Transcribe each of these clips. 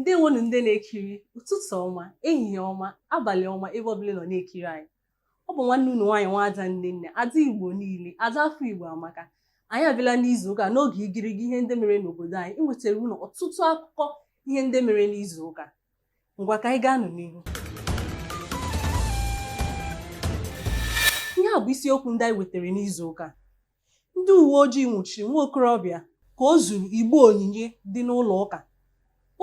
ndewonu ndị na-ekiri ụtụtụ ọma ehihie ọma abalị ọma ebe ọbụla ị nọ na-ekiri anyị ọ bụ nwanne unu nwaanyị nwaada nnenna ada igbo niile ada afọ igbo amaka anyị abịala n'izu ụka n'oge igirigi ihe ndị mere n'obodo anyị iwetara unu ọtụtụ akụkọ ihe ndị mere n'izu ụka ngwa ka anyị gaa nụ n'ihu ihe a bụ isiokwu ndị anyị wetara n'izu ụka Ndị uwe ojii nwụchiri nwa okorobịa ka o zuru igbe onyinye dị n'ụlọ ụka.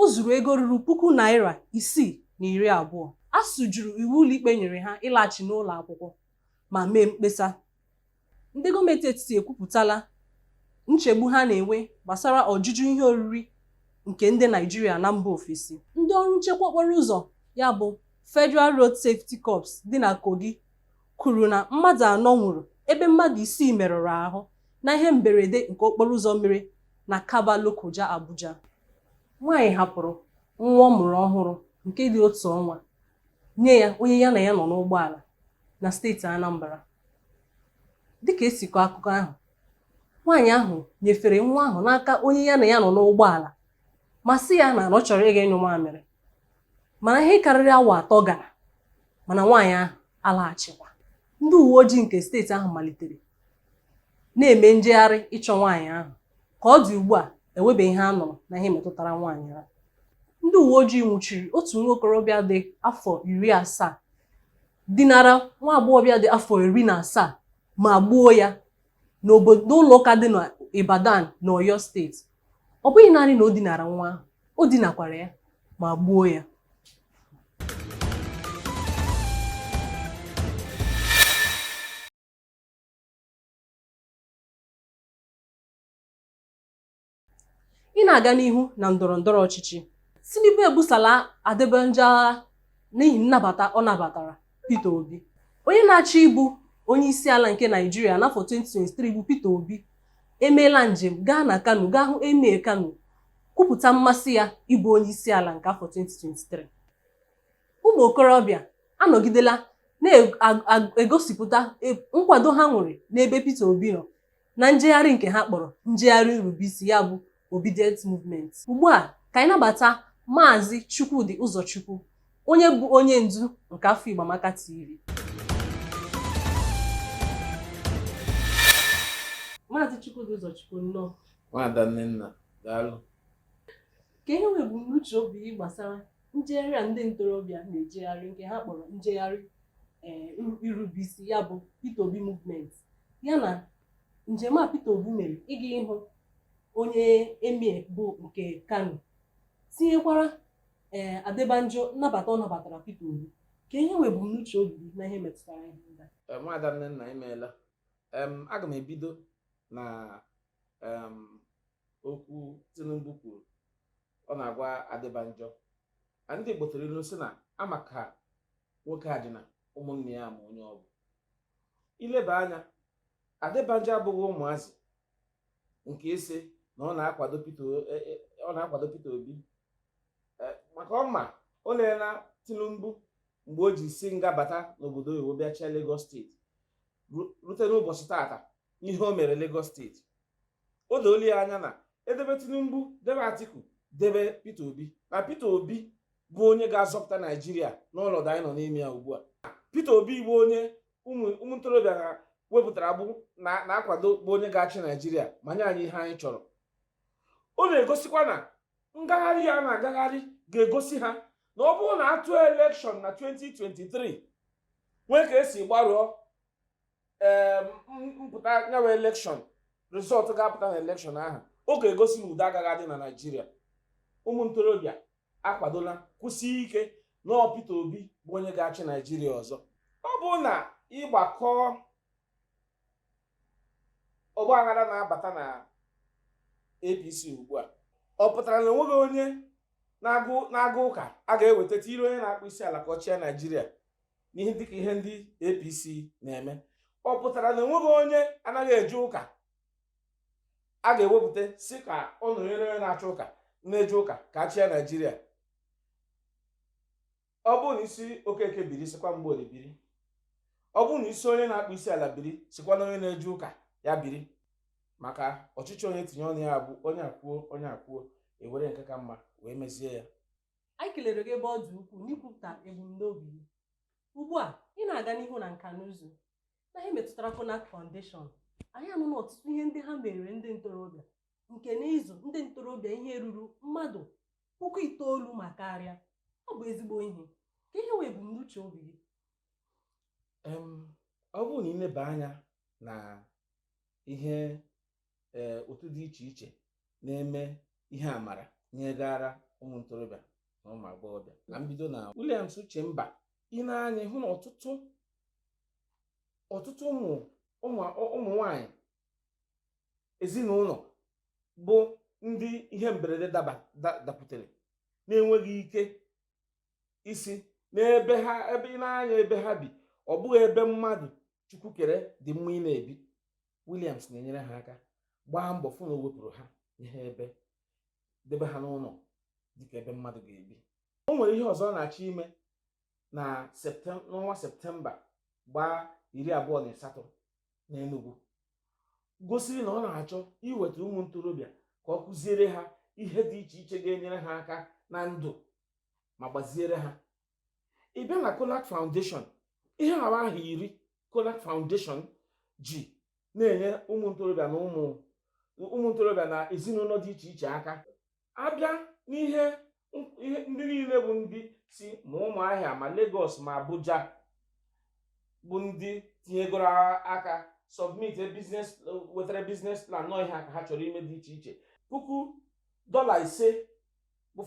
O zuru ego ruru puku naira isii na iri abụọ. ASUU jụrụ iwu ụlọikpe nyere ha ịlaghachi n'ụlọ akwụkwọ ma mee mkpesa. Ndị gọọmenti etiti ekwupụtala nchegbu ha na-enwe gbasara ọjụjụ ihe oriri nke ndị Naijiria na mba ofesi. Ndị ọrụ nchekwa okporo ụzọ ya bụ Federal Road Safety Corps dị na Kogi kwuru na mmadụ anọ nwụrụ ebe mmadụ isii merụrụ ahụ na ihe mberede nke okporo ụzọ mere na Kabba Lokoja Abuja. Nwaanyị hapụrụ nwa ọ mụrụ ọhụrụ nke dị otu ọnwa nye ya onye ya na ya nọ n'ụgbọala na steeti Anambra. Dịka e si kọọ akụkọ ahụ, nwaanyị ahụ nyefere nwa ahụ n'aka onye ya na ya nọ n'ụgbọala ma sị ya na ọ chọrọ ịga ịnyụ mamịrị. mana ihe karịrị awa atọ gara mana nwaanyị ahụ alaghachikwa ndị uwe ojii nke steeti ahụ malitere na-eme njegharị ịchọ nwaanyị ahụ ka ọ dị ugbu a enwebeghị ihe a nụrụ na ihe metụtara nwaanyị ahụ ndị uwe ojii nwụchiri otu nwa okorobịa dị afọ iri asaa dinara nwa agbọghọbịa dị afọ iri na asaa ma gbuo ya n'ụlọ ụka dị n'Ibadan na Oyo steeti ọ bụghị naanị na o dinara nwa ahụ o dinakwara ya ma gbuo ya ị na-aga n'ihu na ndọrọ ndọrọ ọchịchị Tinubu ebusala Adebanjo agha n'ihi nnabata ọ nabatara Peter Obi onye na-achọ ịbụ onye isi ala nke Naijiria n'afọ 2023 bụ Peter Obi emeela njem gaa na Kano gaa hụ Emir Kano kwupụta mmasị ya ịbụ onye isi ala nke afọ 2023 ụmụ okorobịa anọgidela na-egosipụta nkwado ha nwere n'ebe Peter Obi nọ na njegharị nke ha kpọrọ njegharị nrubeisi ya bụ Obidient movement ugbu a ka anyị nabata maazị Chukwudi Ụzọchukwu onye bụ onye ndu nke afọ Igbo Amaka TV maazị Chukwudi Ụzọchukwu nnọọ nwaada Nnenna daalụ kee ihe wụ ebumnuche obi gị gbasara njegharị a ndị ntorobịa na-ejegharị nke ha kpọrọ njegharị eh, iru- irubeisi ya bụ Peter Obi movement ya na njem a Peter Obi mere ịga ịhụ onye emir bụ nke Kano tinyekwara ee Adebanjo nnabata ọ nabatara Peter Obi kee ihe wụ ebumnuche obi gị na ihe metụtara ihe ndị a Eh, nwaada nnenna imeela em aga m ebido na em okwu Tinubu kwuru ọ na-agwa Adebanjọ na ndị Igbo tụrụ ilu sị na ama ka nwoke a dị na ụmụnne ya ma onye ọ bụ i leba anya Adebanjọ abụghị ụmụazị nke ị sị na ọ na-akwado Peter e, e, ọ na-akwado Peter Obi e, maka ọ ma o leela Tinubu mgbe o ji si nga bata n'obodo oyibo bịa chịa Lagos steeti rute n'ụbọchị tata ihe o mere Lagos steeti o doola ya anya na e debe tinubu debe atiku debe peter obi na peter obi bụ onye ga-azọpụta naijiria n'ọnọdụ anyị nọ n'ime ya ugbu a peter obi bụ onye ụmụ ntorobịa ha wepụtara bụ na-akwado bụ onye ga-achị naijiria ma nye anyị ihe anyị chọrọ ọ na-egosikwa na ngagharị a na-agagharị ga-egosi ha na ọ bụrụ na a tụọ elekshọn na 2023 nwee ka e si gbarụọ ee mpụta ya wụ elekshọn rizọtụ ga-apụta na elekshọn ahụ ọ ga-egosi na udo agaghị adị na naijiria ụmụ ntorobịa akwadola kwụsị ike na ọ peter obi bụ onye ga-achị naijiria ọzọ ọ bụ na ị gbakọọ ọgbaghara na-abata na apc ugbu a ọ pụtara na enweghị onye na-aga ụka a ga-eweta tiiri onye na-akpụ isi ala ka ọ chịa naijiria n'ihe dịka ihe ndị APC na-eme ọ pụtara na enweghị onye anaghị eje ụka a ga-ewepụta sị ka ọ nọnyere onye na-achọ ụka na-eje ụka ka a chịa Naijiria ọ bụrụ na ị sị Okeke biri sịkwa Mgborie biri ọ bụrụ na ị sị onye na-akpụ isi ala biri sịkwa na onye na-eje ụka ya biri maka ọchịchị onye tinye ọnụ ya bụ onye akwuo onye akwuo e were nke ka mma wee mezie ya anyị kelere gị ebe ọ dị ukwuu n'ikwupụta ebumnobi gị ugbu a ị na-aga n'ihu na nka na ụzụ na ihe metụtara Connak Foundation anyị anụla ọtụtụ ihe ndị ha merere ndị ntorobịa nke n'ịzụ ndị ntorobịa ihe ruru mmadụ puku itoolu ma karịa ọ bụ ezigbo ihe kee ihe wụ ebumnuche obi gị ọ bụrụ na i leba anya na ihe ee otu dị iche iche na-eme ihe amara nyegara ụmụ ntorobịa na ụmụ agbọghọbịa na mbido na Williams Uchemba i nee anya hụ na ọtụtụ ọtụtụ ụmụ ụmụ nwanyị ezinụlọ bụ ndị ihe mberede dapụtara na-enweghị ike isi n'ebe ha ebe i nee anya ebe ha bi ọ bụghị ebe mmadụ chukwu kere dị mma ịna-ebi Williams na-enyere ha aka gbaa mbọ fụ na o wepụrụ ha ihe ebe debe ha n'ụlọ dịka ebe mmadụ ga-ebi o nwere ihe ọzọ ọ na-achọ ime na n'ọnwa septemba gbaa iri abụọ na asatọ n'Enugu gosiri na ọ na-achọ iweta ụmụ ntorobịa ka ọ kụziere ha ihe dị iche iche ga-enyere ha aka na ndụ ma gbaziere ha ị bịa na Connak Foundation ihe a wụ ahọ iri Connak Foundation ji na-enye ụmụ ntorobịa na ụmụ ụmụ ntorobịa na ezinụlọ dị iche iche aka a bịa n'ihe ihe ndị niile bụ ndị si ma Ụmụahịa ma Lagos ma Abuja bụ ndị tinyegoro aka submit business wetara business plan na ọ ihe a ka ha chọrọ ime dị iche iche puku dọla ise bụ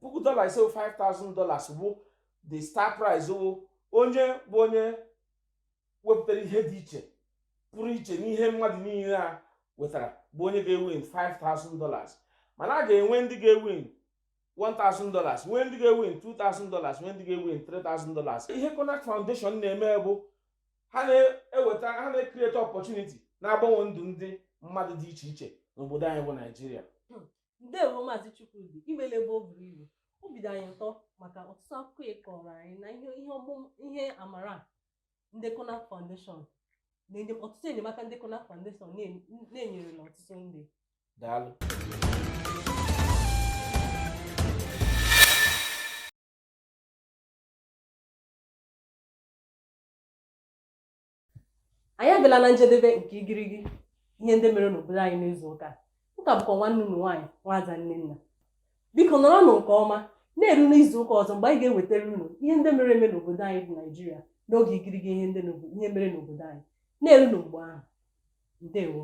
puku dọla ise 5000 dollars bụ the star prize wụ onye bụ onye wepụtara ihe dị iche pụrụ iche n'ihe mmadụ niile a wetara bụ onye ga-ewin 5000 dollars mana a ga-enwe ndị ga-ewin 1000 dollars nwee ndị ga-ewin 2000 dollars nwee ndị ga-ewin 3000 dollars ihe Connak Foundation na-eme bụ ha na-eweta ha na-ecreate opportunity na-agbanwe ndụ ndị mmadụ dị iche iche n'obodo anyị bụ naijiria ndewo maazị Chukwudi i meele ebe o buru ibu obi dị anyị ụtọ maka ọtụtụ akụkọ ị kọọrọ anyị na ihe ihe ọmụ ihe amara a ndị Connak Foundation na-enye ọtụtụ enyemaka ndị Connak Foundation na-enye- na-enyerela ọtụtụ ndị daalụ anyị abịala na njedebe nke igirigi ihe ndị mere n'obodo anyị n'izu ụka a ọ ka bụkwa nwanne unu nwaanyị nwaada Nnenna biko nọrọnụ nke ọma na-eru n'izu ụka ọzọ mgbe anyị ga-ewetara unu ihe ndị mere eme n'obodo anyị bụ naijiria n'oge igirigi ihe ndị n'obo- ihe mere n'obodo anyị na-eru na mgbe ahụ ndewo